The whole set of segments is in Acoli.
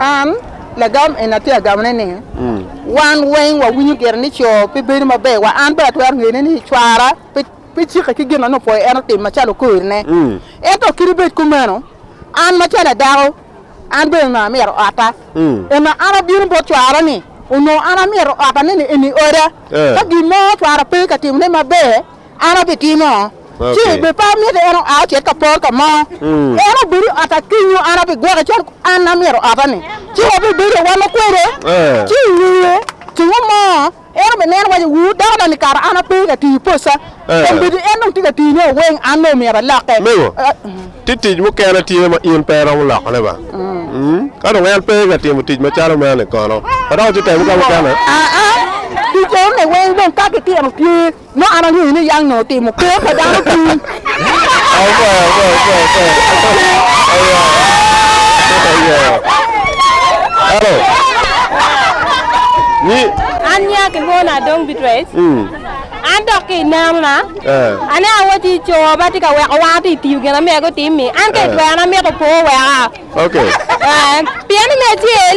An, lagam eni atye ka gamone ni, wan weng wawinyo gire ni co pe bedo maber, wa an bene atwero ngene ni cwara pe cikke ki gin ma nongo pwoyo en otim macalo okorine. Ento kit obed kumeno, an macalo adako, an bene onongo amyero otta. Onongo an abino bot cwara-ni, onongo an amyero otta nino en i oda. Ka gin mo cwara pe ka timone maber, an abitimo. Ci bene pe amito en oa ocit ka por ka mo, en obedo i otta kenyo, an abigwoke calo an amyero otta-ni, ci wabibedo wango kwede. Ci i ngeye kingo mo en obineno waco, Wu dako dong nikato an ape ka tiyo poca, kombedo en dong tye ka tiyone weng, an dong omyero alokke. Mego, tye tic mukene tye ma in pe iromo lokone ba. Ka dong en pe ka timo tic macalo meno-ni kono, wadok waci temo ka mukene. Aa, tic enoni weng dong ka gitino tye. Nongo an angeyo ni Young nongo otimo kit ma dano tum. An nya kilwongo ni Adong Beatrice. An dok ki i nenona, ane awoti i coo ma tye ka weko wan ati tiyo gin amege otim-mi. An ka itwera an amito po weka. Pien ni me acel,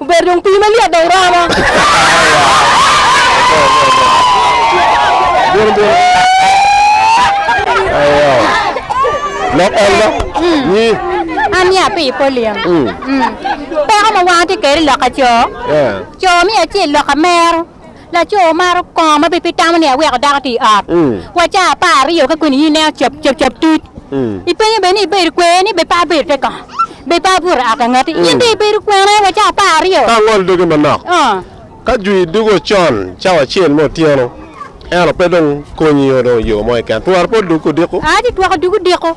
Obedo dong pii ma lyet dong romo. Lok en ma. Nyi. An ya pi Polian. Peko ma wan atye kede i loka co, co miyo acel loka mero. Laco omaro kongo ma pe tamo ni aweko dako tye i ot wa cawa apar aryo ka kweni in ineno cap cap cap tuc. Ipenyo bene ni ibedo kwer ni be pe abedo te kongo be pe abuto i ot ka ngati. In dong ibedo kwene wa cawa apar aryo. Ka angol dogi manok. Ka jwi dugo ocon cawa acel me otyeno ento pe dong konyi o dong yo mo keken. Twara pe odug odiko? Aa ci twaka odug odiko.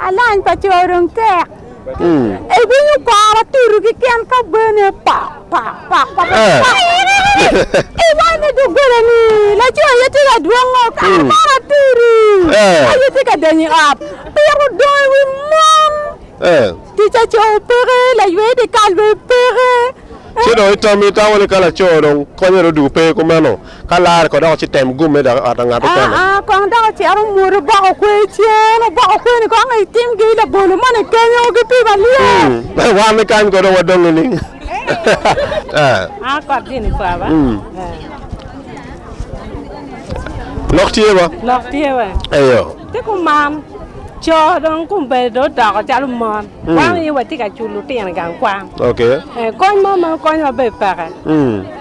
Alany pa co dong tek. Iwinyo kora tutu ki ken ka bene pa pa pa pa pa. Iwanyo doggola ni laco aye tye ka dwongo kare man aturi. Aye tye ka denyo i ot. Pito dong i wi mon. Tic aco peke, laywe dikal bene peke. Ci dong itam itamo ni ka laco dong konyere oduu pe kumeno, ka larre ko dok ci tem gumme dok i ot pa ngat mukene. Aa kong dok ocito omwodo oboko kwer cen, oboko kwer ni kong itim gi labolo moni kenyo gi pii malyet. Aa wan ni kany ko dong wadong nining? Aa. Lok tye wa? Eyo. Ki kuman, co dong gubedo dong odoko calo mon. Wan aye watye ka culo lutino i gang kwan. Okay. Eh, kony mo ma konyowa bene peke.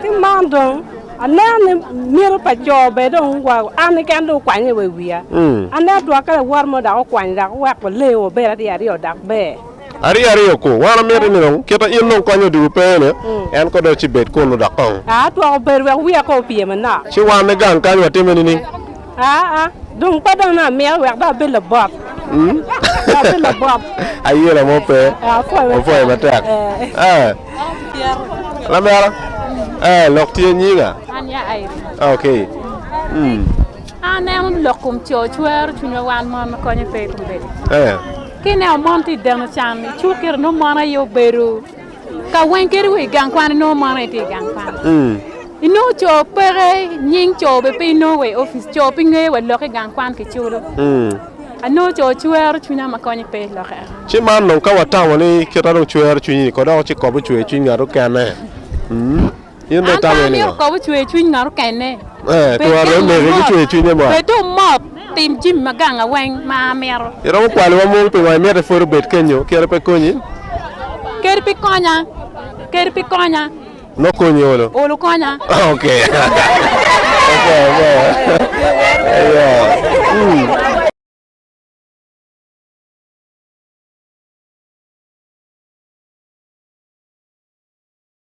Ki man dong aneno ni mito pa co bene dong wa an keken dong okwanye i we wiya. Aneno dwokke lawot mo dok okwany dok oweko lee obed ariya aryo dok ber. Ariya ariya oku, wan amiti ni dong kita in dong konyo dul pe eni en ko dong ci bed kunu dok kong. A, atwoko bedo wek wiya ko opye manok. Ci wan ni gang kany watime nining? A, a, dong pe dong nongo amito wek dong abed labop. Pe abed labop. Ayela mo pe. A, opwoyo matek. Opwoyo matek. Ee. Ee. Lamera? Ee, lok tye nyinga. An ya Irene. Ok. Mm. Aneno ni lok kom co cwero cwinywa wan mon ma konyo pe i kom bedo. Ee. Ki ineno mon tye ka deno can i cukere nongo mon aye obedo ka weng kadi wa i gang kwan inongo mon aye tye i gang kwan. Inongo co peke, nying co bene pe inongo wa i opic, co pe ngeyo wa lok i gang kwan kiculo. Anongo co cwero cwinya ma konyo pe lok eno. Ci man dong ka watamo ni kite dong cwero cwinyi-ni, kodok ci kop ocwer cwiny ngat mukene. In dong itamo iye ni ngo? Kobo cwer cwiny ngat okene. Eh, twero oneke ki cwer cwinye mot. Bed omot, tim jimi ma ganga weng ma amito. Iromo kwalowa mung pingo imiti pwod obed kenyo? Keri pe konyi? Keri pi konya. Keri pi konya. Nok konyi olo. Olo konya. Ok. Ober, ober. Ayo. Mm.